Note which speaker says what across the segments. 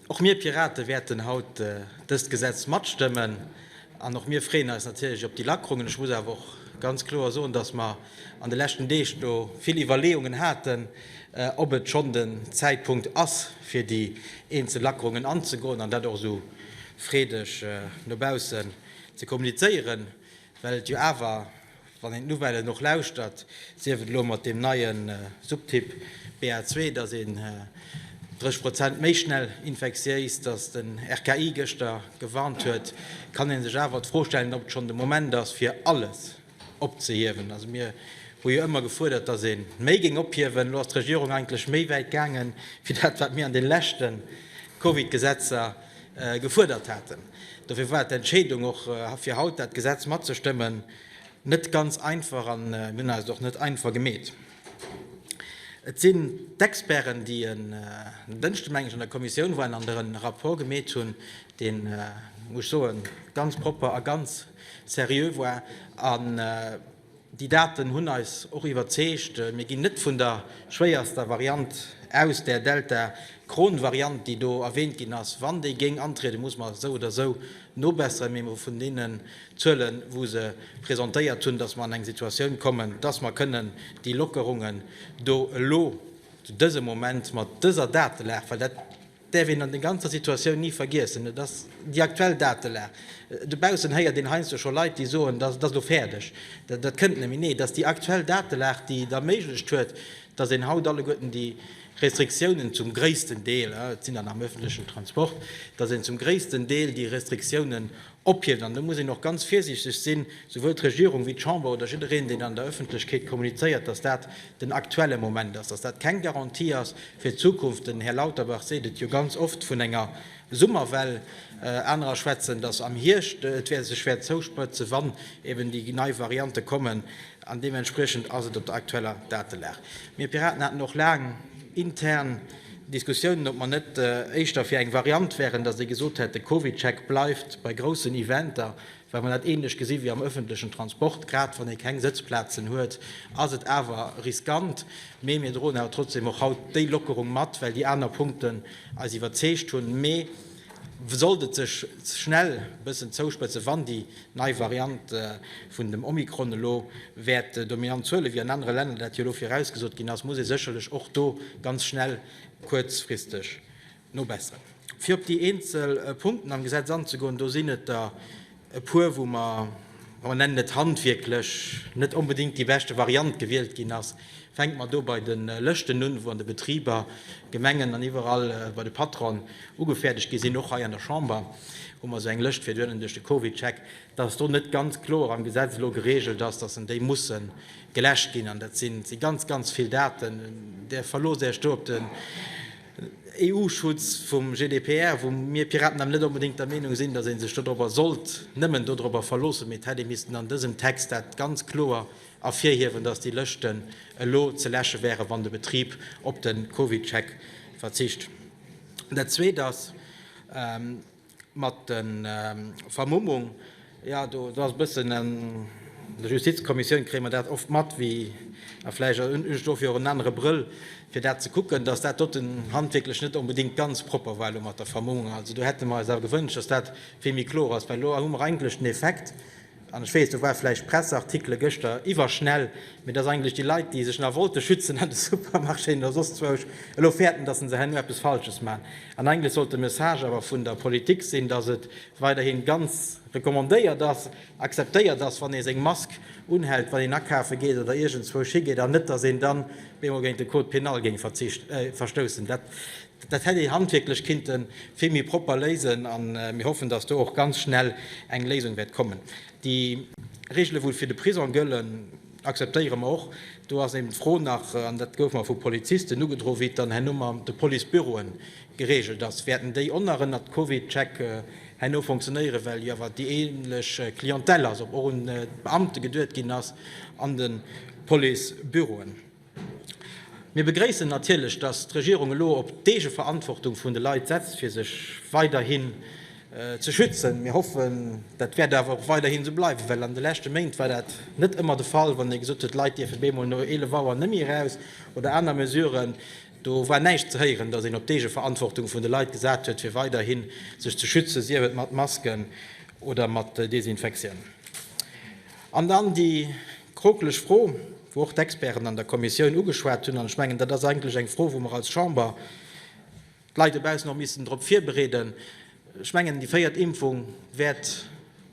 Speaker 1: Och mir Pirate wäerten haut dëst Gesetz matstëmmen an och mir freeën eis natierlech op déi Lackerungen. Ech muss awer och ganz kloer soen, dass mer an de leschten Deeg do vill Iwwerleeungen haten, ob et schonn den Zäitpunkt ass, fir déi eenzel Lackerungen anzegoen an dat och esou freedeg no baussen ze kommunizéieren, well et jo awer, Wann een d'Nouvellen och lauschtert, sief et elo mat deem neie Subtyp BA2, datt een 30 Prozent méi schnell infektiéis, datt de RKI gëschter gewarnt huet, kann ee sech awer d'Fro stellen, ob et schonn de Moment ass fir alles opzehiewen. Also mir hu jo ëmmer gefuerdert, datt ee méi géing ophiewen. Elo ass d'Regierung eigentlech méi wäit gaangen, wéi dat wat mir an de leschte Covid-Gesetzer gefuerdert haten. Dofir war d'Entscheedung och fir haut dat Gesetz matzestëmmen. Net ganz einfach an mir hunn eis et och net einfach gemeet. Et sinn d'Experten, déi en Dënschde meng ech an der Kommissioun waren an der en Rapport gemeet hunn, deen, muss ech soen, ganz propper a ganz seriö war. An déi Daten hunn eis och iwwerzeegt. Mir ginn net vun der schwéierster Variant aus, där Delta-Kron-Variant, déi do erwähnt ginn ass. Wann déi géing antrieden, muss mer se esou oder esou nobesseren, mee vun deenen Zuelen, wou se presentéiert hunn, dass mer an eng Situatioun kommen, dass mer kënnen déi Lockerungen do elo zu dësem Moment mat dëser Datelag, well dat däerf een an der ganzer Situatioun ni vergiessen, et ass déi aktuell Datelag, dobaussen héiert een heiansdo scho Leit, déi soen, dass et ass elo fäerdeg, dat kënnt net méi. Nee, et ass déi aktuell Datelag, déi et erméiglecht huet, dass een haut alleguerten déi Restriktiounen zum gréissten Deel, et sinn der nach am öffentlechen Transport, dass een zum gréissten Deel déi Restriktiounen Ophieft. An do muss een och ganz virsiichteg sinn, souwuel d'Regierung wéi d'Chamber oder jiddereen, deen an der Öffentlechkeet kommunizéiert, dass dat den aktuelle Moment ass, dass dat keng Garantie ass fir d'Zukunft. Den Här Lauterbach seet et jo ganz oft vun enger Summerwell. Anerer schwätzen, dass am Hierscht et sech wäert zouspëtzen, wann eben déi nei Variante kommen. An deementspriechend ass et op der aktueller Datelag. Mir Piraten haten och laang intern Diskussiounen, ob mer net éischter fir eng Variant wäeren, datt ee gesot hätt, de CovidCheck bleift bei groussen Eventer, well mer dat ähnlech gesi wéi am öffentlechen Transport, grad wann ee keng Sëtzplazen huet, ass et awer riskant. Mee mir droen awer trotzdem och haut déi Lockerung mat, well déi aner Punkten eis iwwerzeegt hunn. Mee Sollt et sech schnell e bëssen zouspëtzen, wann déi nei Variant vun dem Omikron elo wäert dominant Zuele wéi an anere Länner, dat jo elo virausgesot ginn ass, muss ee sécherlech och do ganz schnell kuerzfristeg nobesseren. Fir op déi eenzel Punkten am Gesetz anzegoen, do sinn et der, e puer wou mer, mer nennen et handwierklech, net onbedéngt déi beschte Variant gewielt ginn ass. Fänke mer do bei de Lëschten un, wou an de Betriber, Gemengen an iwwerall bei de Patronen ugefäerdegt gi sinn, och hei an der Chamber hu mer esou eng Lëscht fir duerno duerch de CovidCheck, dass do net ganz kloer am Gesetz elo geregelt ass, dass en déi musse geläscht ginn. An dat si ganz, ganz vill Daten. Där verloosst Iech do op de. EU-Schutz vum GDPR, wou mir Piraten awer net onbedéngt der Meenung sinn, datt ee sech dodropper sollt nëmmen dodropper verloossen, mee et hätt ee missten an dësem Text dat ganz kloer ervirhiewen, datt déi Lëschten elo ze läsche wären, wann de Betrib op de CovidCheck verzicht. Dat Zweet ass, Mat den Vermummung, jo do ass e bëssen, an der Justizkommissioun kréie mer dat oft mat, wéi a vläicht hunn ech dofir och en anere Brëll fir dat ze kucken, datt dat doten handwierklech net onbedéngt ganz propper war elo mat der Vermummung. Also do hätte mer eis awer gewënscht, datt dat vill méi kloer ass, well elo hu mer eigentlech den Effekt, An ech weess, do war vläicht Presseartikele gëschter iwwerschnell, mee dass eigentlech déi Leit, déi sech nach wollte schützen an de Supermarchéen oder soss zwousch, elo fäerten, dass se se herno eppes Falsches maachen. An eigentlech sollt de Message awer vun der Politik sinn, dass et weiderhi ganz recommandéiert ass, akzeptéiert ass, wann ee seng Mask unhält, wann een akafe geet oder iergendzwousch higeet, an net, dass een dann bemol géint de Code pénal géing verstoussen. Dat hätt ee handwierklech kinnte vill méi propper léisen a mir hoffen, datt do och ganz schnell eng Léisung wäert kommen. Déi Regele wou fir de Prisong gëllen, akzeptéiere mer och. Do ass eben d'Fro nach, an dat gouf mer vu Polizisten ugedroe wéi et dann herno mat de Policebüroe geregelt ass. Wäerten déi och nach ënnert CovidCheck herno funktionéieren, well jo awer déi änlech Clientèle ass, ob och un d'Beamte geduet ginn ass an de Policebüroen. Mir begréissen natierlech, dass d'Regierung elo op d'Eegeverantwortung vun de Leit setzt, fir sech weiderhin ze schützen. Mir hoffen, dat wäert awer och weiderhin esou bleiwen, well an de leschte Méint war dat net ëmmer de Fall, wann ee gesot huet, d'Leit dierfen bemol no 11 Auer net méi eraus oder aner Mesuren. Do war näischt ze héieren, dass een op d'Eegeverantwortung vun de Leit gesat huet, fir weiderhin sech ze schützen, sief et mat Masken oder mat Desinfektioun. An dann déi krokeleg Fro, wou och d'Experten an der Kommissioun ugeschwat hunn, an ech mengen, dat ass eigentlech eng Fro, wou mer als Chamber d'Leit dobaussen och missten drop virbereeden, ech mengen, déi véiert Impfung wäert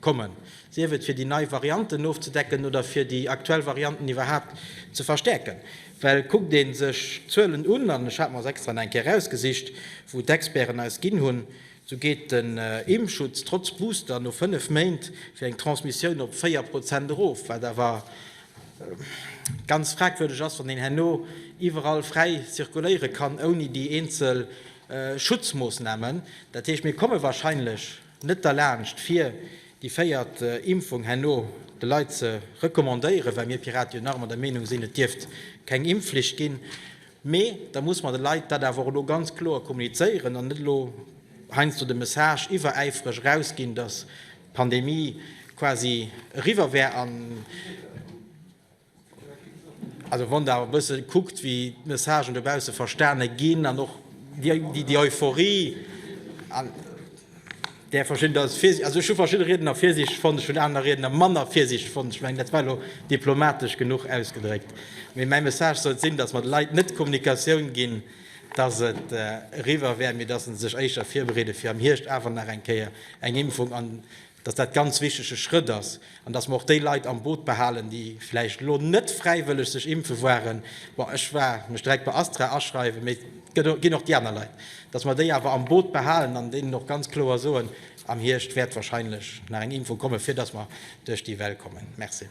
Speaker 1: kommen, sief et fir déi nei Varianten ofzedecken oder fir déi aktuell Varianten iwwerhaapt ze verstäerken. Well kuckt ee sech d'Zuelen un, an ech hat mer se extra nach eng Kéier erausgesicht, wou d'Experten eis ginn hunn, Sou geet den Impfschutz trotz Booster no 5 Méint fir eng Transmissioun op 4 Prozent erof, wat awer ganz fragwürdeg ass, wann een herno iwwerall fräi zirkuléiere kann ouni déi eenzel Schutzmoossnamen. Dat heescht, mir komme wahrscheinlech net derlaanscht fir déi véiert Impfung herno de Leit ze recommandéieren, well mir Piraten jo nach ëmmer der Meenung sinn, et dierft keng Impfflicht ginn. Mee da muss mer de Leit dat awer och elo ganz kloer kommunizéieren an net elo heiansdo de Message iwweräifreg erausginn, datt d'Pandemie quasi eriwwer wär. Also wann Der awer e bësse kuckt, wéi d'Messagen dobausse verstane ginn an och déi Euphorie, där verschidden da fir sech, also ech hu verschidde Riedner virsiichteg fonnt, ech hunn aner Riedner manner virsiichteg fonnt. Ech mengen, dat war elo diplomatesch genuch ausgedréckt. Mee mäi Message sollt sinn, datt mer de Leit net d'Kommunikatioun ginn, datt et eriwwer wär, mee datt se sech éischter virbereede fir am Hierscht awer nach eng Kéier eng Impfung, an datt dat ganz wichtege Schrëtt ass. An dass mer och déi Leit am Boot behalen, déi vläicht elo net fräiwëlleg sech impfe waren, bon, ech war mech direkt bei Astra aschreiwen, mee et ginn och déi aner Leit, dass mer déi awer am Boot behalen an deenen och ganz kloer soen, am Hierscht wäert wahrscheinlech nach eng Impfung kommen, fir dass mer duerch déi Well kommen. Merci.